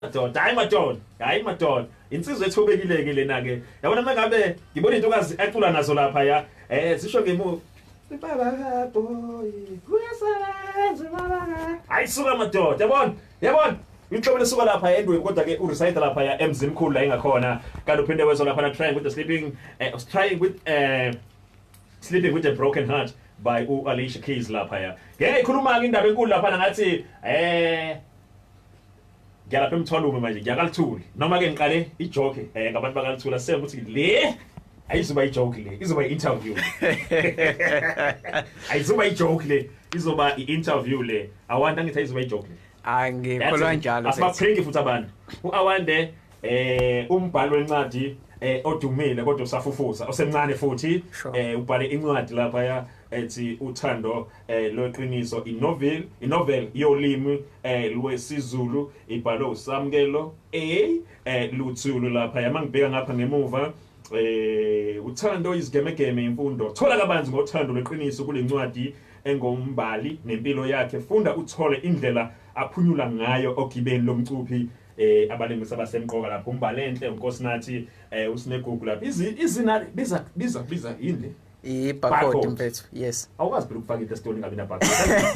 madoda hayi madoda hayi madoda insizwa ethobekile-ke lena-ke yabona uma ngabe ngibona intokazi acula nazo lapha ya um zisho ngemu baba kaboy kuyasebenza baba hayi suka madoda yabona yabona inhlobo lesuka lapha endweni kodwa ke ureside lapha ya emzini mkhulu la ingakhona kanti uphinde wezwa lapha na trying with the sleeping uh, trying with uh, sleeping with a broken heart by u Alicia Keys lapha ya ngeke ikhuluma ke indaba enkulu lapha ngathi eh Ngiyalapha emthwalume manje ngiyakalithuli. Noma ke ngiqale ijoke eh ngabantu bakalithula sebe ukuthi le ayizoba ijoke le izoba i-interview ayizoba ijoke le izoba i-interview le awanda ngithi ayizoba ijoke le angikholwa njalo asibaphengi futhi abantu u-awande eh umbhalo wencadi eh odumile kodwa usafufuza osemncane futhi eh ubhale incwadi lapha ya ethi uthando eh, lweqiniso inovel inovel yolimi eh, lwesiZulu ibhalwe uSamkelo A eh, Luthulu lapha yama ngibheka ngapha ngemuva eh uthando izigemegeme imfundo thola kabanzi ngothando lweqiniso kulencwadi engombali nempilo yakhe funda uthole indlela aphunyula ngayo ogibeni lomcuphi eh abalingisa basemqoka lapho umbalenhle unkosinathi eh usinegugu lapho izina biza biza biza yini ibhakodi mfethu yes awukwazi phela ukufaka into esitoli ngabe nabhakodi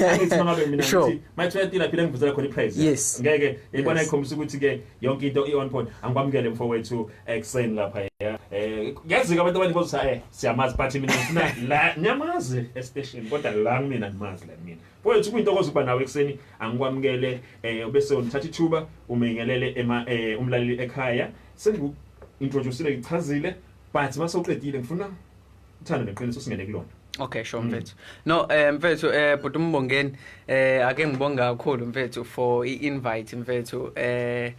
angithi noma ngabe mina ngithi mayithiwa yatila phela ngivuzela khona iprice yes ngeke yibona ikhombisa ukuthi ke yonke into i-on point angikwamukele mfowethu ekuseni lapha eh ngiyazika abantu abaningi bothi eh siyamazi but mina ngifuna la ngiyamazi estation kodwa la mina ngimazi la mina mfowethu kuyintokozo ukuba nawe ekuseni angikwamukele eh ubese unithatha ithuba umengelele ema eh, umlaleli ekhaya sengiku introduce ngichazile but masoqedile ngifuna uthando neqiniso singene kulona Okay sure mm. mfethu. No eh mfethu eh bhuti umbongeni eh ake ngibonge kakhulu mfethu for i-invite mfethu eh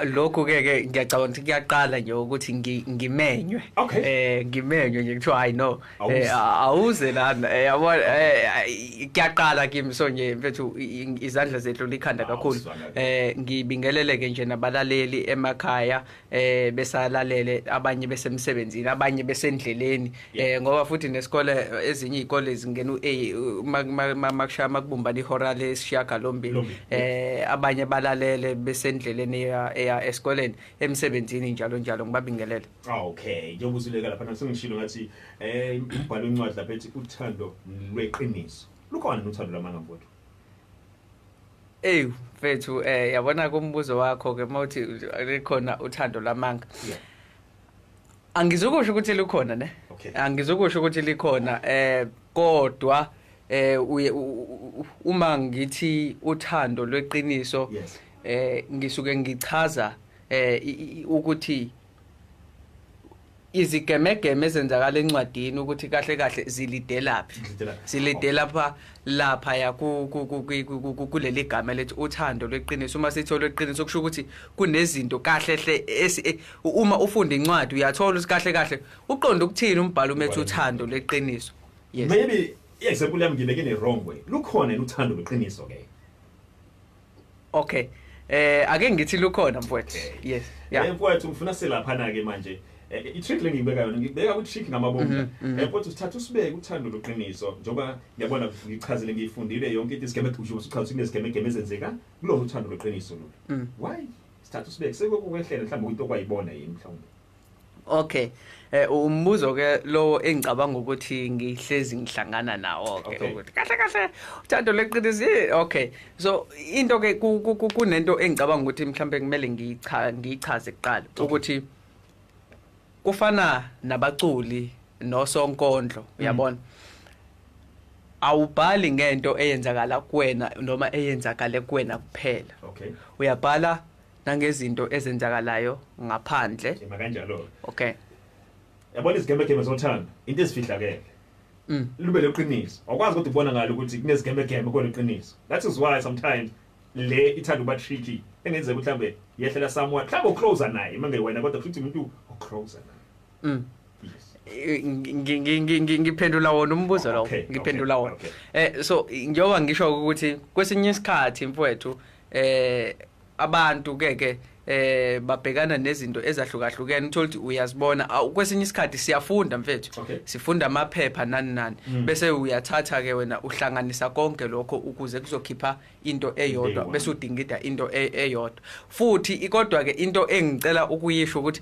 lokho ke ke ngiyacabanga ukuthi kuyaqala nje ukuthi ngimenywe eh ngimenywe nje kuthiwa hayi no eh, awuze lana eh, yabo eh, kuyaqala kimi so nje mfethu izandla zethu likhanda kakhulu eh ngibingeleleke nje nabalaleli emakhaya eh besalalele abanye besemsebenzini abanye besendleleni eh ngoba futhi nesikole ezinye izikole zingena uA makushaya makubumbana ihora lesishaka lombili eh abanye balalele besendleleni eya esikoleni emsebenzini njalo njalo ngibabingelele ah, okay njengoba usileka lapha nasengishilo ngathi eh umbhalo incwadi lapha ethi uthando lweqiniso lukhona uthando lwamanga mfowethu Ey mfethu eh yabona kumbuzo wakho ke mawuthi likhona uthando lamanga. Yeah. Angizukusho ukuthi likhona ne. Okay. Angizukusho ukuthi likhona eh kodwa eh uye uma ngithi uthando lweqiniso yes. eh ngisuke ngichaza eh ukuthi izigemegeme ezenzakala encwadini ukuthi kahle kahle zilidelaphi ziledelapha lapha ya kuleli gama lethi uthando lweqiniso uma sithola lweqiniso kusho ukuthi kunezinto kahle hle e, uma ufunda incwadi uyathola ukuthi kahle kahle uqonda ukuthini umbhalo umethi uthando lweqiniso yes maybe example yami ngibeke ne wrong way lukhona uthando lweqiniso ke okay eh ake ngithi lukhona mfowethu yes yeah eh mfowethu ngifuna silaphana ke manje eh, eh, i-trick le ngiyibeka yona ngibeka ku-trick ngamabomba mhm, mhm. um eh, mfowethu sithatha usibeke uthando loqiniso njengoba ngiyabona ngichazile ngiyifundile yonke into isigemegusho usuchaza ukuthi kunezigemegeme ezenzeka kulona uthando loqiniso lolu mm. why sithatha usibeke sekukwehlela mhlawumbe into okwayibona yini mhlawumbe Okay. Eh umbuzo ke lowo engicabanga ukuthi ngihlezi ngihlangana nawo ke ukuthi kahle kahle uthando leqiniso okay. So into ke kunento engicabanga ukuthi mhlambe kumele ngiyicha ngiyichaze kuqala ukuthi kufana nabaculi nosonkondlo mm. uyabona. Mm. awubhali ngento eyenzakala kuwena noma eyenzakale kuwena kuphela okay uyabhala nangezinto ezenzakalayo ngaphandle Ema kanjalo. okay Yabona izigembe gembe zothando into ezifihlakele. Mm. Lube leqiniso. Awukwazi kodwa ukubona ngalo ukuthi kunezigembe gembe kodwa iqiniso. That is why sometimes le ithanda uba tricky. Engenzeka ukuthi mhlambe yehlela someone. Mhlambe ucloser naye manje wena kodwa futhi umuntu ocloser naye. mm. Yes. Eh, ngi- ngi- ngi- ngi- ngi- ngiphendula wona umbuzo lowo Okay, ngiphendula okay, wona okay. eh so njengoba ngisho ukuthi kwesinye isikhathi mfowethu eh abantu ke ke eh babhekana nezinto ezahlukahlukene uthola ukuthi uyazibona kwesinye isikhathi siyafunda mfethu okay. sifunda amaphepha nani nani mm. bese uyathatha ke wena uhlanganisa konke lokho ukuze kuzokhipha into eyodwa bese udingida into e, eyodwa futhi ikodwa ke into engicela ukuyisho ukuthi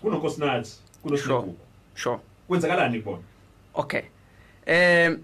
kunonkosinathi kunosigugu sure kwenzakalani kubona okay eh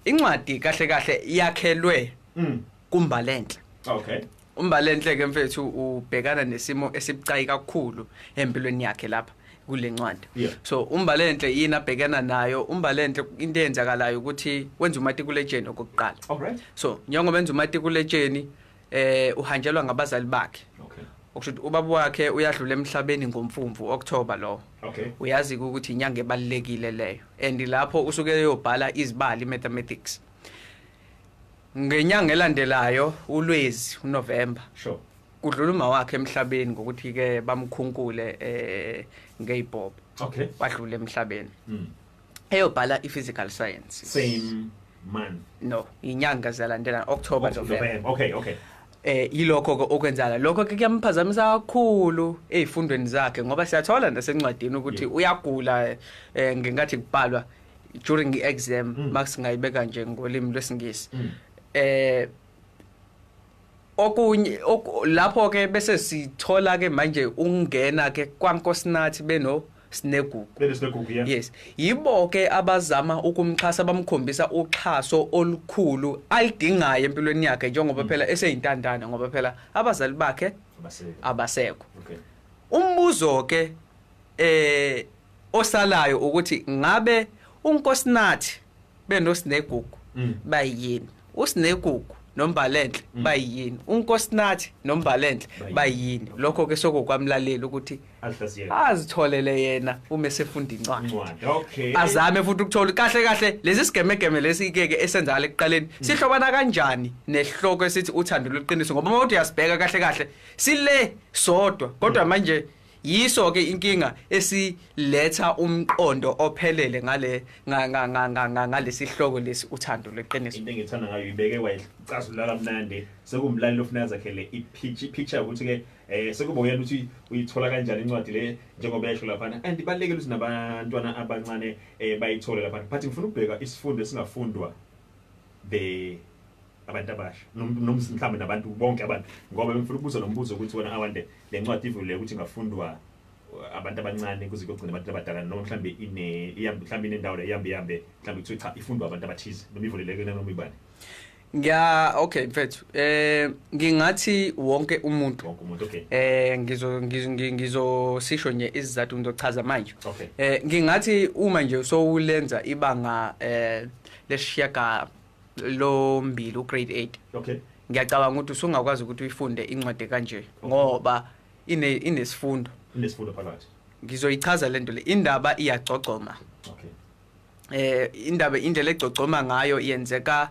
incwadi kahle kahle yakhelwe mm. kumbalenhle okay umbalenhle ke mfethu ubhekana nesimo esibucayi kakhulu empilweni yakhe lapha kulencwadi yeah. so umbalenhle yini abhekana nayo umbalenhle into eyenzakalayo ukuthi wenza umatikuletsheni okokuqala right. so njengoba enza umatikuletsheni eh uhanjelwa ngabazali bakhe okay okusho ukuthi ubaba wakhe uyadlula emhlabeni ngomfumfu October lo okay uyazi ukuthi inyanga ebalekile leyo and lapho usuke eyobhala izibali mathematics ngenyanga elandelayo ulwezi uNovember sure kudlula uma wakhe emhlabeni ngokuthi ke bamkhunkule eh ngeyibhobo okay wadlula emhlabeni mm. eyobhala i-physical science same month no inyanga ziyalandelana october oh, november okay okay eh yilokho ke okwenzala lokho ke kuyamphazamisa kakhulu ezifundweni zakhe ngoba siyathola nasencwadini ukuthi uyagula eh ngenkathi kubhalwa during i-exam mm. makusingayibeka nje ngolimi lwesingisi mm. eh okunye lapho ke bese sithola ke manje ungena ke kwankosinathi beno sinegugu besinegugu yeah. yes yibo ke abazama ukumxhasa bamkhombisa uxhaso olukhulu alidingayo empilweni yakhe njengoba mm. phela eseyintandane ngoba phela abazali bakhe abasekho okay umbuzo ke eh osalayo ukuthi ngabe unkosinathi benoSinegugu mm. bayini uSinegugu nombalenhle mm. bayini unkosinathi nombalenhle bayini lokho ke sokokwamlalela ukuthi azitholele yena uma esefunda incwadi okay azame futhi ukuthola kahle kahle lesi sigemegeme lesi ke ke esenzala ekuqaleni mm. sihlobana kanjani nehloko esithi uthando lweqiniso ngoba uma uthi uyasibheka kahle kahle sile sodwa kodwa mm. manje yiso ke inkinga esiletha umqondo ophelele ngale ngalesihloko lesi uthando leqiniso into engithanda ngayo ibeke wayicazulula kamnandi sekumlaleli ofuna zakhele ipicture picture ukuthi ke eh sekuba uyena ukuthi uyithola kanjani incwadi le njengoba esho lapha and ibalekele ukuthi nabantwana abancane eh bayithole lapha but ngifuna ukubheka isifundo esingafundwa the abantu abasha noma mhlawumbe nabantu bonke abantu ngoba bengifuna ukubuza lo mbuzo ukuthi wena awande le ncwadi ivulile ukuthi ingafundwa uh, abantu abancane kuze kuyogcina abantu abadala noma mhlawumbe ine ihambe mhlawumbe inendawo la ihambe ihambe mhlawumbe kuthiwa cha ifundwa abantu abathize noma ivuleleke noma ibani ngiya okay mfethu eh ngingathi wonke umuntu wonke umuntu okay eh ngizo ngizo sisho nje izizathu ngizochaza manje okay eh ngingathi uma nje sowulenza ibanga eh lesishiyaga lo mbili ugrade 8 okay ngiyacabanga ukuthi usungakwazi ukuthi uyifunde incwadi kanje ngoba ine inesifundo inesifundo phakathi ngizoyichaza lento le indaba iyagcogcoma okay eh indaba indlela egcogcoma ngayo yenzeka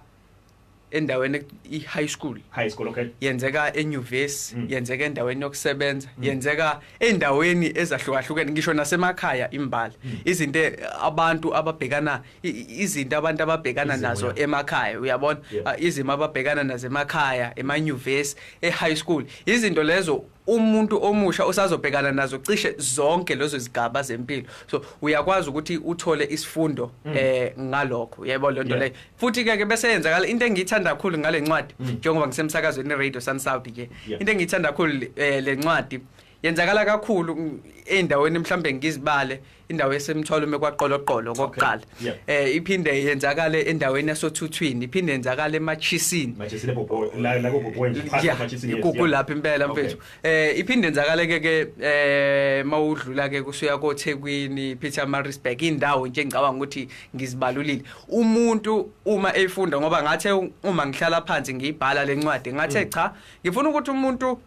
endaweni i-high school high school okay yenzeka enyuvesi mm. yenzeka endaweni yokusebenza mm. yenzeka endaweni ezahlukahlukene ngisho nasemakhaya imbala mm. izinto abantu ababhekana izinto abantu ababhekana Izimo, nazo yeah. emakhaya uyabona yeah. uh, izimo ababhekana nazo emakhaya emanyuvesi e-high school izinto lezo umuntu omusha usazobhekana nazo cishe zonke lezo zigaba zempilo so uyakwazi ukuthi uthole isifundo mm. eh ngalokho yebo lento leyo futhi ke ke bese yenzakala into engiyithanda kakhulu ngale ncwadi mm. njengoba ngisemsakazweni radio Sun South ke into engiyithanda kakhulu eh, le ncwadi yenzakala kakhulu endaweni mhlambe ngizibale indawo esemthwalo uma kwaqoloqolo kokuqala eh iphinde yenzakale endaweni yasothuthwini iphinde yenzakale emachisini machisini bobho la la bobho nje phansi emachisini ikuku lapha impela mfethu eh iphinde yenzakale ke ke eh mawudlula ke kusuya koThekwini Peter Marisburg indawo nje ngicabanga ukuthi ngizibalulile umuntu uma efunda ngoba ngathe uma ngihlala phansi ngiyibhala lencwadi ngathe mm. cha ngifuna ukuthi umuntu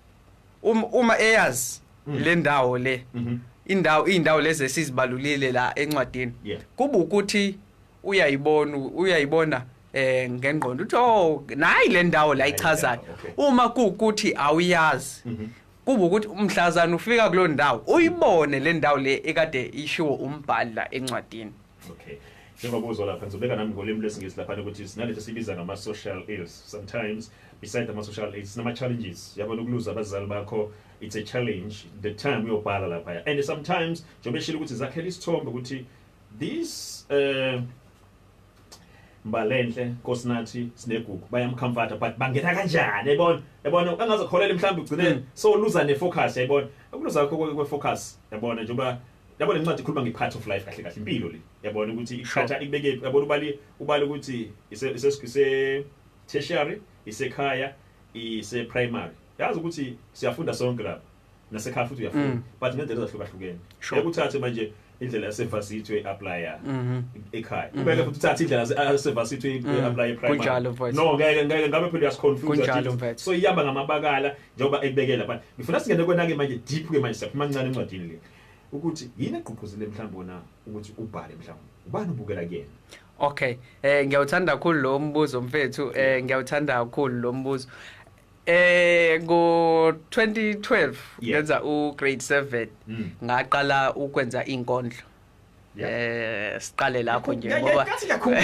Um, uma eyazi mm. le ndawo le mhm. indawo izindawo lezi esizibalulile la encwadini kuba ukuthi uyayibona uyayibona eh ngengqondo uthi oh nayi le ndawo la ichazayo uma kukuthi awuyazi mhm. kuba ukuthi umhlazana ufika kulo ndawo uyibone le ndawo le ekade ishiwo umbhali la encwadini Okay. Njengoba uzwa lapha ngizobeka nami ngolimi lwesingisi lapha ukuthi sinalento sibiza ngama social ills. Sometimes beside ama social ills sinama challenges. Yabona ukuluza abazali bakho it's a challenge the time uyobhala lapha. And sometimes njengoba eshilo ukuthi zakhela isithombe ukuthi this uh Mbalenhle Nkosinathi Sinegugu bayamcomforta but bangena kanjani yabona yabona angazokholela mhlawumbe ugcine mm. so luza ne focus yabona ukuluza kwakho kwe focus yabona njengoba yabo lencwadi ikhuluma nge part of life kahle kahle impilo le yabona ukuthi iqhatha ikubeke yabona ubali ubali ukuthi ise ise ise tertiary isekhaya ise primary yazi ukuthi siyafunda sonke lapha nasekhaya futhi uyafunda mm. but ngendlela ezahlukahlukene ekuthathe manje indlela yasevasithi uyi-aplya mhm. ekhaya mhm. ubeke futhi uthathe indlela yasevasithi uyi-aplya mhm. eprimarykunjalo no ngeke ngeke ngabe phela uyasiconfuse so iyamba ngamabakala njengoba ekubekela but ngifuna singene kwena-ke manje deep-ke manje siyaphuma kancane encwadini le ukuthi yini egqugquzele mhlawumbe wona ukuthi ubhale mhlawumbe ubani ubukela kuyena okay eh ngiyawuthanda kakhulu lo mbuzo mfethu eh ngiyawuthanda kakhulu lo mbuzo eh ngo 2012 ngenza u grade 7 mm. ngaqala ukwenza inkondlo Eh siqale lapho nje ngoba ngathi ngiyakhumbula.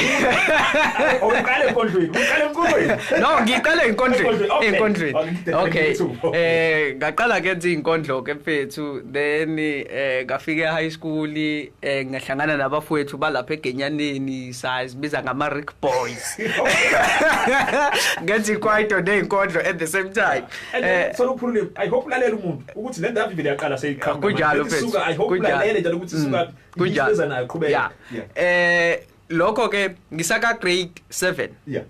Awuqale enkondlweni, uqale enkondlweni. No, ngiqale enkondlweni, enkondlweni. Okay. Eh ngaqala ke nje inkondlo ke mfethu, then eh ngafika high school eh ngahlangana nabafowethu balapha eGenyaneni, sazibiza ngama Rick Boys. Ngenza ikwaito neinkondlo at the same time. Eh soluphulile, I hope lalela umuntu. ukuthi le ndavi vele yaqala seyiqhamuka kunjalo mfethu suka i hope ulalele njalo ukuthi suka mm. kunjalo iza nayo qhubeka eh lokho ke ngisaka grade 7 yeah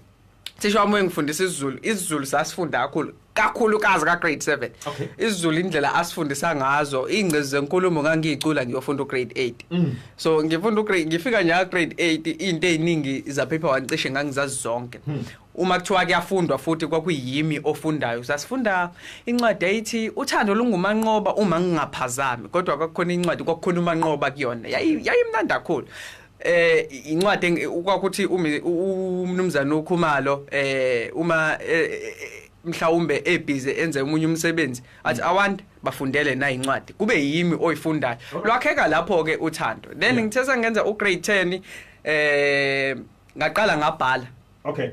thisha wami engifundisa isiZulu isiZulu sasifunda kakhulu kakhulu kazi ka grade 7 okay. isiZulu indlela asifundisa ngazo ingcezi zenkulumo ngangiyicula ngiyofunda ugrade 8 mm. so ngifunda ugrade ngifika nya grade 8 into eziningi za paper wancishe ngangizazi zonke mm. uma kuthiwa kuyafundwa futhi kwakuyimi ofundayo sasifunda incwadi eyithi uthando lungumanqoba uma ngingaphazami kodwa kwakukhona incwadi kwakukhona umanqoba kuyona yayimnandi kakhulu eh incwadi kwakuthi umnumzane ukhumalo eh uma eh, eh, eh, mhlawumbe ebhizi enze umunye umsebenzi athi mm. awant bafundele na incwadi kube yimi oyifundayo lwakheka lapho ke uthando then ngithe sengenza u grade 10 eh ngaqala ngabhala okay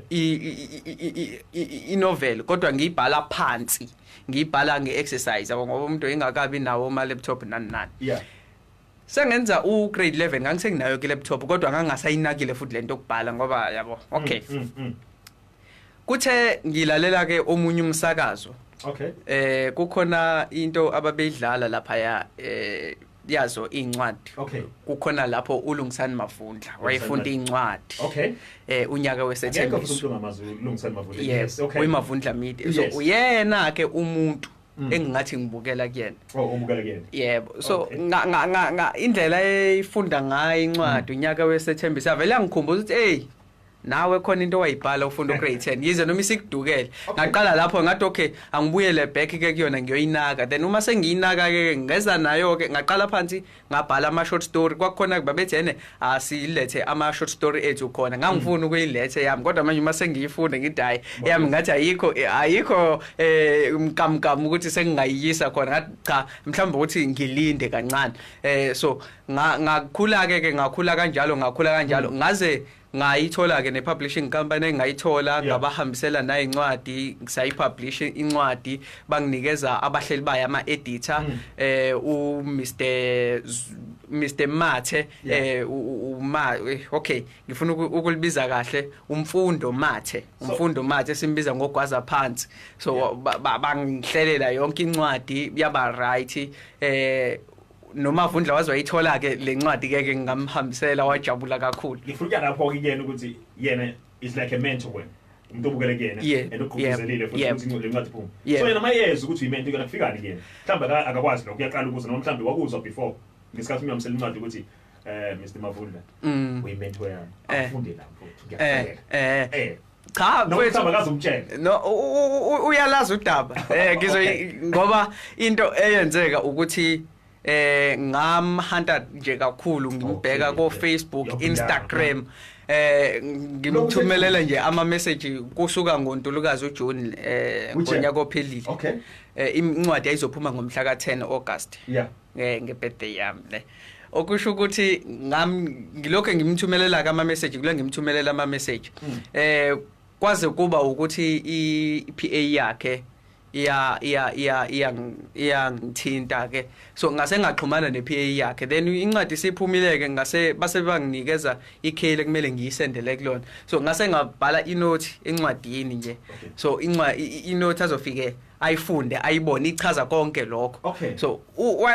inovel kodwa ngiyibhala phansi ngiyibhala nge-exercise yabo ngoba umuntu engakabi nawo ama-laptop nani nani yeah sengenza u-grade 11 ngangisenginayo ke-laptop kodwa ngangingasayinakile futhi le nto yokubhala ngoba yabo okay mm, mm, mm. kuthe ngilalela-ke omunye umsakazo okay eh kukhona into ababeyidlala laphaya eh yazo incwadi okay. kukhona lapho ulungisani mavundla wayefunda incwadi okay. eh unyaka wesethembiso yes okay. uyimavundla media yes. so uyena ke umuntu Mm. engingathi ngibukela kuyena oh ubukela kuyena yebo so okay. nga, nga, nga, nga indlela eyifunda ngayo incwadi mm. unyaka wesethembiso avele angikhumbuza ukuthi hey nawe khona into owayibhala ufunda ugrade 10 yize noma isikudukele ngaqala lapho ngathi okay angibuyele back ke kuyona ngiyoyinaka then uma sengiyinaka ke ngeza nayo ke ngaqala phansi ngabhala ama short story kwakukhona babethi ene asilethe ama short story ethu khona ngangifuna mm. ukuyilethe yami kodwa manje uma sengiyifunde ngithi hayi yami ngathi ayikho ayikho eh mkamkam ukuthi sengingayiyisa khona ngathi cha mhlawumbe ukuthi ngilinde kancane eh so ngakhula ke ke ngakhula kanjalo ngakhula kanjalo mm. ngaze ngayithola-ke ne-publishing company engayithola yeah. ngabahambisela nayo incwadi sayipublish incwadi banginikeza abahleli bayo ama-editor mm. eh umr mr mathe yeah. eh uma eh, okay ngifuna ukulibiza kahle umfundo mathe umfundo so, mathe simbiza ngogwaza phansi so yeah. bangihlelela ba, ba, yonke incwadi yaba right eh nomavundla waze wayithola-ke le ncwadi-ke ke ngingamhambisela wajabula kakhulu ngifuna lapho-ke kuyena ukuthi yena is like a mentor wena umuntu obukele kuyena and ogqugquzelile futhi ukuthi incwadi incwadi iphume so yena mayezi ukuthi uyimento kuyona kufikani kuyena mhlawumbe akakwazi lokho uyaqala ukuza noma mhlawumbe wakuzwa before ngesikhathi umyamsela incwadi ukuthi eh Mr Mavundla mm. uyimento yami eh. afunde lapho eh, eh eh cha mfethu akazumtshela no uyalazi udaba eh ngizo ngoba into eyenzeka ukuthi eh ngamhanta nje kakhulu ngimbheka ko Facebook Instagram eh ngimthumelela nje ama message kusuka ngoNtulukazi uJune eh ngonyaka ophelile okay eh, incwadi ayizophuma ngomhla ka 10 August yeah nge nge birthday yami ne okusho ukuthi ngam ngilokho ngimthumelela ka ama message kule ngimthumelela ama message hmm. eh kwaze kuba ukuthi i PA yakhe iya iya iya iya iyangithinta ke so ngase ngaxhumana ne PA yakhe then incwadi siphumile ke ngase base banginikeza ikheli kumele ngiyisendele kulona so ngase ngabhala inothi encwadini nje so incwa inothi azofike ayifunde ayibone ichaza konke lokho okay. so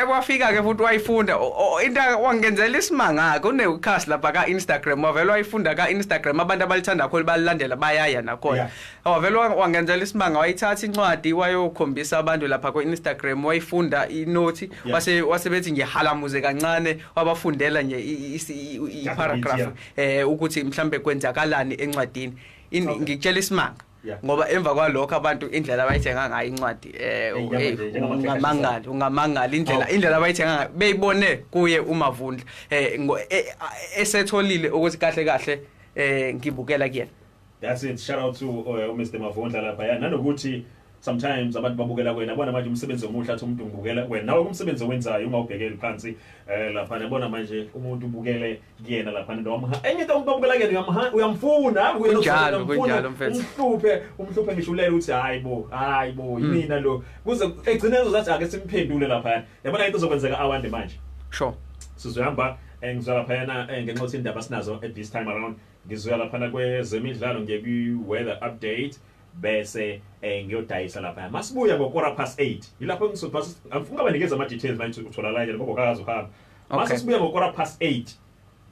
wafika ke futhi wayifunda into wangenzela isimanga ke unewukhasi lapha ka Instagram wavela wayifunda ka Instagram abantu abalithanda kakhulu balilandela bayaya nakhona yeah. wavela wangenzela isimanga wayithatha incwadi wayokhombisa abantu lapha ku Instagram wayifunda inothi yeah. wase wasebethi nje halamuze kancane wabafundela nje i paragraph eh ukuthi mhlambe kwenzakalani encwadini ngikutshela isimanga ngoba emva kwalokho abantu indlela abayithenga ngayo incwadi eh ungamangali ungamangali indlela oh. indlela abayithenga ngayo beyibone kuye umavundla eh, eh esetholile ukuthi kahle kahle eh ngibukela kuyena that's it shout out to uh, Mr Mavundla lapha ya nanokuthi sometimes abantu babukela kwena bona manje umsebenzi omuhle athi umuntu ngibukela kwena nawe kumsebenzi owenzayo uma ubhekele phansi eh lapha yabona manje umuntu ubukele kuyena lapha nto wamha enye into umuntu obukela kuyena uyamha uyamfuna hayi kuyena Kunjalo, uyamfuna, kunjalo, mfethu. umhluphe umhluphe ngisho ulele uthi hayi bo hayi bo Hmm. yimina lo kuze egcine ezozathi ake simphendule lapha yabona into zokwenzeka awande manje sure sizohamba eh, ngizwa laphayana eh, ngenxa yokuthi indaba sinazo at this time around ngizoya laphana kwezemidlalo ngiye kwi-weather update bese eh, ngiyodayisa laphaya masibuya ngokora past 8 yilapho ngizoba angifunga banikeza ama-details manje utholakala njani ngoba kakazi uhamba Okay. Mase sibuya ngo quarter past 8.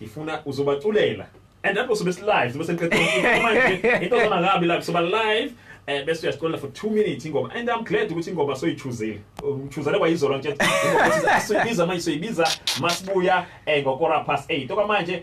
Ngifuna uzobaculela. And that was best live. Sibe senqedile manje. Into zona ngabi la soba live. Eh bese uyasicolela for 2 minutes ingoma. And I'm glad ukuthi ingoma soyichuzile. Uchuzele kwayizolo nje. Ingoma soyibiza manje soyibiza masibuya eh ngo quarter past 8. Okwamanje